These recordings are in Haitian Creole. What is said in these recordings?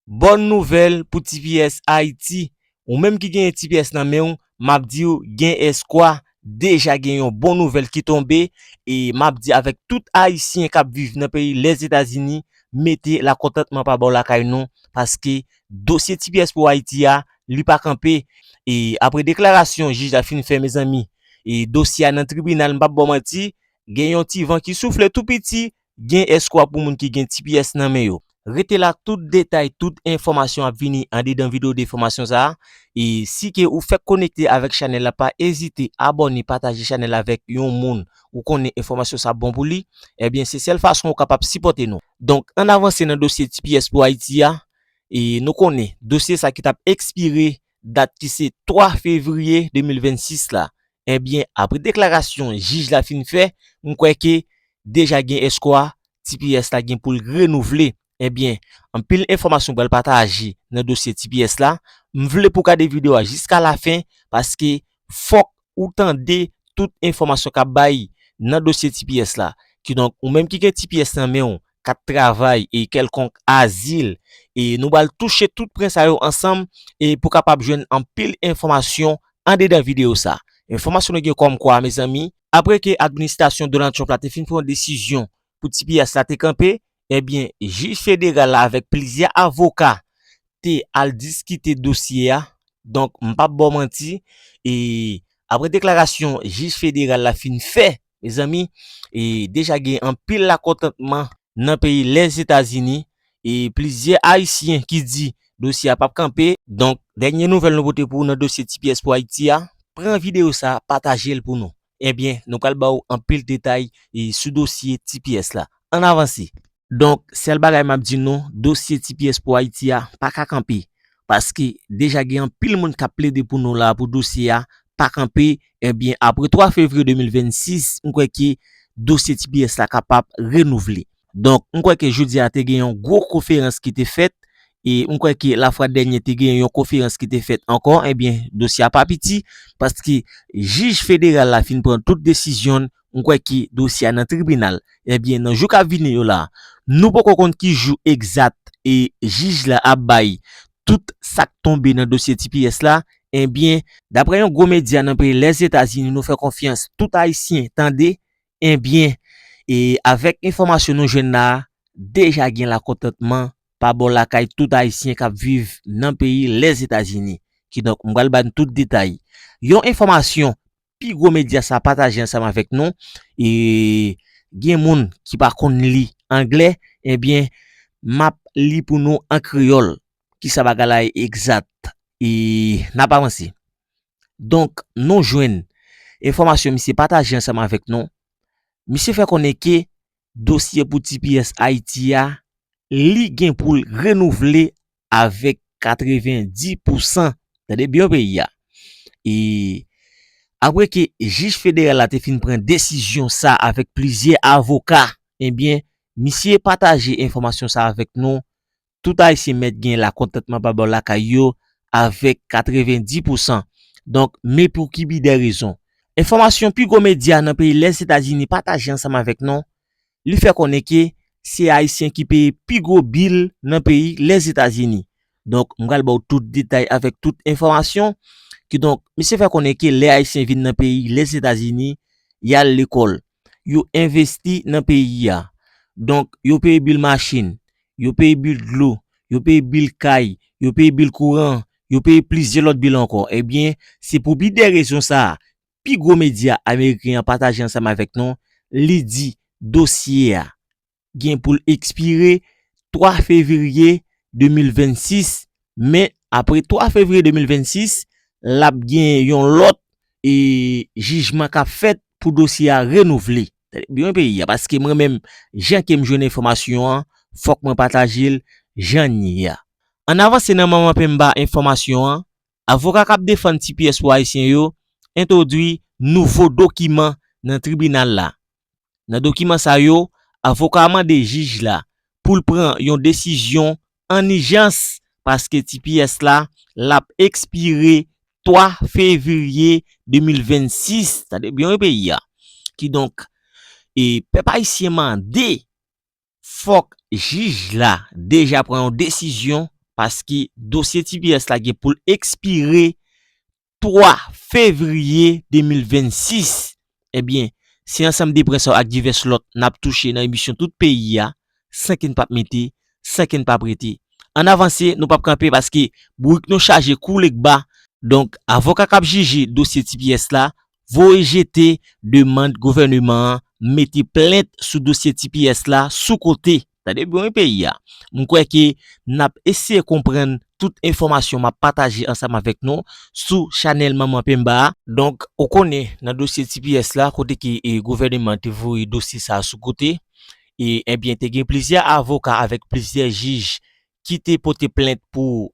Bòn nouvèl pou tps Ayiti, ou menm ki genyen tps nan men ou, map diw gen eskwa, deja gen yon bon nouvèl ki tonbe, e map di avèk tout ayisyen kap viv nan peyi Lèzetazini, mete lakontantman pa bò lakay nou, paske dosye tps pou Ayiti a, li pa kanpe, e apre deklarasyon jij la fin fè mezanmi, e dosye a nan tribinal m pap baw manti, gen yon ti van ki soufle tou piti, Gen eskwa pou moun ki gen tps nan men yo. Rete la tout detay tout enfòmasyon ap vini andedan video de fòmasyon sa e si ke ou fèk konekte avèk chanèl la pa ezite abòne pataje chanèl la avèk yon moun ou konnen enfòmasyon sa bon pou li ebyen se sèl fason ou kapab sipòte nou donk ann avanse nan dosye tps pou ayiti a e nou konnen dosye sa ki tap ekspire dat ki se 3 fevriye 2026 la ebyen apre deklarasyon jij la fin fè m kwè ke deja gen espwa tps la gen pou l renouvle ebyen anpil enfòmasyon pral pataje nan dosye tps la m vle pou w gade video a jiska lafen paske fòk ou tande tout enfòmasyon k ap bay nan dosye tps la. Kidonk, ou menm ki gen tps nan men ou, kat travay e kèlkonk azil, e nou pral touche tout pwen sa yo ansanm e pou kapab jwenn anpil enfòmasyon andedan videyo sa. Enfòmasyon nou gen kòmkwa, mezanmi, apre ke administrasyon Donald Trump la te fin pran desizyon pou ti piyas la te kanpe, ebyen jij federal la avèk plizyè avoka te al diskite dosye a, donk m pap baw manti e aprè deklarasyon jij federal la fin fè mezanmi e deja gen anpil lakontantman nan peyi Lèzetazini e plizyè ayisyen ki di dosye a pap kanpe, donk dènye nouvèl nou pote pou ou nan dosye tps pou ayiti a, pran videyo sa patajel pou nou. Ebyen, nou pral ba ou anpil detay sou dosye tps la. Ann avanse! Donk, sèl bagay m ap di nou, dosye tps pou Ayiti a pa ka kanpe. Paske, deja gen anpil moun k ap plede pou nou la a pou dosye a pa kanpe. Ebyen, apre 3 fevriye 2026, m kwè ke dosye tps la kapab renouvle. Donk, m kwè ke jodi a te gen yon gwo koferans ki te fèt, e m kwè ke lafwa dènye te gen yon koferans ki te fèt ankò, ebyen, dosye a pa piti, paske jij federal la fin pran tout desizyon l, m kwè ke dosye a nan tribinal. Ebyen, nan jou k ap vini yo la, nou poko konn ki jou egzat e jij la ap bay tout sa k tonbe nan dosye tps la, ebyen, daprè yon gwo medya nan peyi Lèzetazini nou fè konfyans tout Ayisyen tande, Ebyen, e avèk enfòmasyon nou jwenn la a, deja gen lakontantman pa bò lakay tout Ayisyen k ap viv nan peyi Lèzetazini. Kidonk, m pral ba n tout detay. Yon enfòmasyon pi gwo medya sa a pataje ansanm avèk nou, e gen moun ki pa konn li angle, ebyen m ap li pou nou an kreyòl kisa bagay la ye egzat. E n ap avanse. Donk, nou jwenn, enfòmasyon misye pataje ansanm avèk nou, misye fè konnen ke dosye pou tps Ayiti a, li gen pou l renouvle avèk 90 pou san, tande byen peyi a. E, apre ke jij federal la te fin pran desizyon sa avèk plizyè avoka, ebyen, misye pataje enfòmasyon sa avèk nou, tout ayisyen mèt gen lakontantman pa bò lakay yo avèk 90 pousan. Donk, men pou ki bi dè rezon. Enfòmasyon pi gwo medya nan peyi Lèzetazini pataje ansanm avèk nou, li fè konnen ke se ayisyen ki peye pi gwo bil nan peyi Lèzetazini. Donk, m pral ba w tout detay avèk tout enfòmasyon. Kidonk, misye fè konnen ke lè ayisyen vin nan peyi Lèzetazini, y al lekòl. yo envesti nan peyi a. Donk, yo peye bil machin, yo peye bil dlo, yo peye bil kay, yo peye bil kouran, yo peye plizyè lòt bil ankò. Ebyen, se pou bi de rezon sa a, pi gwo medya ameriken an pataje ansanm avèk nou, li di dosye a gen pou l ekspire 3 fevriye 2026, men apre 3 fevriye 2026, l ap gen yon lòt jijman k ap fèt pou dosye a renouvle. Tande byen wi peyi a, paske mwen menm jan ke m jwenn enfòmasyon an, fòk mwen pataje l jan n ye a. Ann avanse nan manman penmba enfòmasyon an, avoka k ap defann tps pou Ayisyen yo entwodui nouvo dokiman nan tribinal la, Nan dokiman sa yo, avoka a mande jij la pou l pran yon desizyon an ijans paske tps la l ap ekspire 3 fevriye 2026, tande byen wi peyi a. Kidonk, pèp ayisyen mande fòk jij la deja pran yon desizyon paske dosye tps la gen pou l ekspire 3 fevriye 2026. Ebyen, se ansanm de pwen sa yo ak divès lòt n ap touche nan emisyon Tout Peyi a, san ke n pa p mete, san ke n pa p rete. An n avanse, nou pa p kanpe paske bourik nou chaje kou legba. Donk, avoka k ap jije dosye tps la, voye jete demand gouvèneman an mete plent sou dosye tps la sou kote. Tande byen wi peyi a. M kwè ke n ap eseye konprann tout enfòmasyon m ap pataje ansanm avèk nou sou chanèl Manman Pemba a. Donk, ou konnen nan dosye tps la kote ke gouvèneman an te voye dosye sa a sou kote, e, enbyen te gen plizyè avoka avèk plizyè jij ki te pote plent pou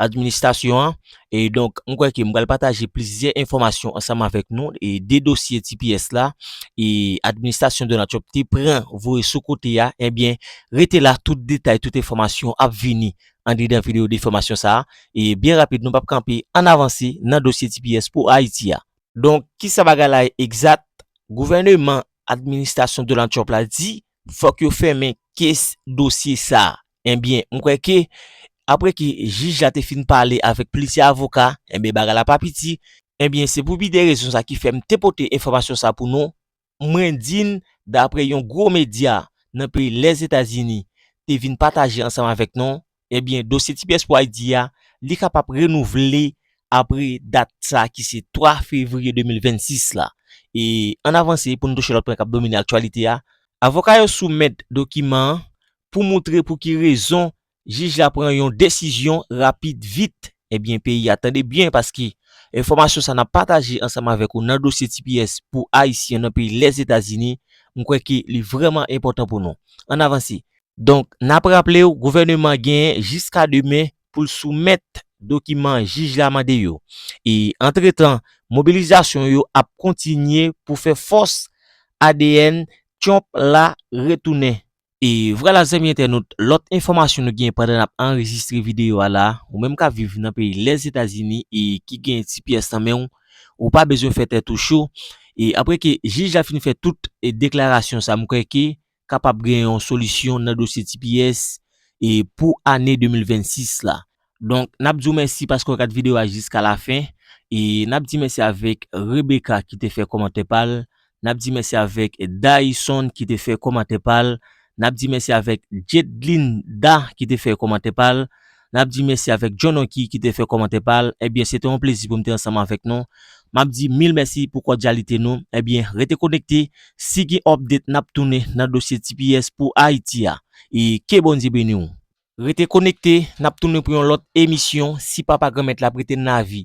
administasyon an. E donk, m kwè ke m pral pataje plizyè enfòmasyon ansanm avèk nou e de dosye tps la e administrasyon Donald Trump te pran voye sou kote a. Ebyen, rete la tout detay, tout enfòmasyon ap vini andedan videyo de fòmasyon sa a. E byen rapid, nou pap kanpe, ann avanse nan dosye tps pou Ayiti a. Donk, kisa bagay la ye egzat? Gouvèneman administrasyon Donald Trump la di Fok yo fèmen kes dosye sa. Enbyen m kwè ke apre ke jij la te fin pale avèk plizyè avoka, enbyen bagay la pa piti, enbyen se pou pi de rezon sa ki fè m te pote enfòmasyon sa pou nou, mwen di n dapre yon gwo medya nan peyi Lèzetazini te vin pataje ansanm avèk nou, Ebyen dosye tps pou ayiti a li ka pap renouvle apre dat sa ki se 3 fevriye 2026 la. E ann avanse pou n touche lòt pwen k ap domine aktyalite a, Avoka yo soumèt dokiman an pou moutre pou ki rezon jij la pran yon desizyon rapid vit Ebyen peyi a tande byen paske enfòmasyon sa nap pataje ansanm avèk ou nan dosye tps pou ayisyen nan peyi Lèzetazini m kwè ke li vrèman enpòtan pou nou. Ann avanse. Donk nap raple w gouvèneman genyen jiska demen pou l soumèt dokiman jij la mande yo. E antretan mobilizasyon yo ap kontinye pou fè fòs adn Tyonp la retounen. E vwala zanmi entènot, lòt enfòmasyon nou gen pandan nap anrejistre videyo a la, ou menm kap viv nan peyi Lèzetazini e ki gen ti pyès nan menw, ou pa bezwen fè tèt ou cho, e aprè ke jij la fin fè tout deklarasyon sa mkwè ke kapab gen yon solisyon nan dosye ti pyès e pou ane 2026 la. Donk nap di w mèsi paske w gad video a jiska la fen e nap di mèsi avèk Rebecca ki te fè kòmantè pa l nap di mèsi avèk Dayson ki te fè kòmantè pa l nap di mèsi avèk Jedlinda ki te fè kòmantè pa l nap di mèsi avèk Jhononky ki te fè kòmantè pa l ebyen se te yon plezi pou m te ansanm avèk nou map di mil mèsi pou kòdyalite nou ebyen rete konekte si gen update nap tounen nan dosye tps pou Ayiti a e ke Bondye beni w. Rete konekte, nap tounen pou yon lòt emisyon si papa granmèt la prete n lavi.